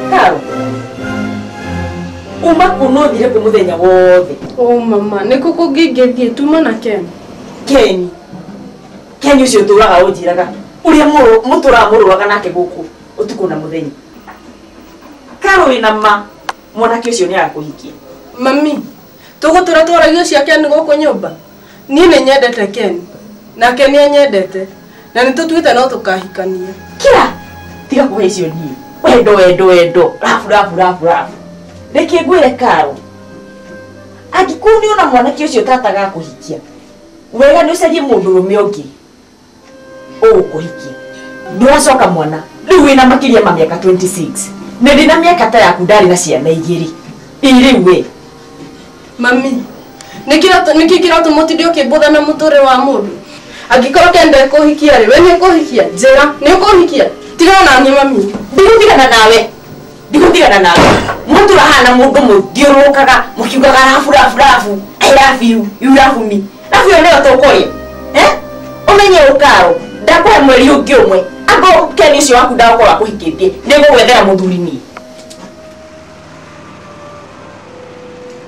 Karo. Uma kunothire kũ mũthenya wothe. Oh mama, nĩ kũ kũngĩngĩthiĩ tuma na Ken? Keni. Keni ũcio ũtũraga ũnjiraga. Ũrĩa mũrũ- mũtũraga mũrũaga nake gũkũ ũtukũ na mũthenya. Karo wĩna ma. Mwanake ũcio nĩ arakũhikia. Mami, tũgũtũra twaragio cia Ken gũkũ nyũmba? niĩ nĩ nyendete ken nake nĩ anyendete na nĩ tũtuĩte no tũkahikania kira tiga kũhe icio niĩ wendo wendo wendo rabu rabu rabu rabu reke ngwĩre karo angĩkorwo nĩ ona mwanake ũcio tata gakũhikia wega nĩ ũcarie mũndũ rũme ũngĩ ũgũkũhikia nĩwacoka mwana rĩu wĩna makĩria ma mĩaka 26 nĩ ndĩ na mĩaka ta yaku ndarĩ na ciana igĩrĩ irĩu we mami nĩkĩ kĩratũ mũtinde ũkĩmbũtha na mũtũre wa mũndũ angĩkorwo kenda kũhikia rĩ we nĩ ũkũhikia njĩra nĩ ũkũhikia tigana naniĩ mami ndigũtigana nawe ndigutigana nawe mũndũ ũrahana mũndũ mũthiũrũrũkaga mũkiugaga rabu rabu rabu I love you, you love me rabu ĩyo nĩyo tũkũrĩa Eh? ũmenye ũkaro ndakũhe mweri ũngĩ ũmwe angorwo keni ũcio waku ndagũkorwo akũhikĩtie nĩgũgwethera mũthuri niĩ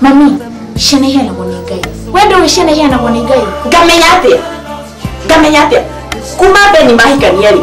mami ciana iheanagwo nĩ ngai we ndũĩ ciana iheanagwo nĩ ngai ngamenya atĩa ngamenya atĩa kuma beni mahikania rĩ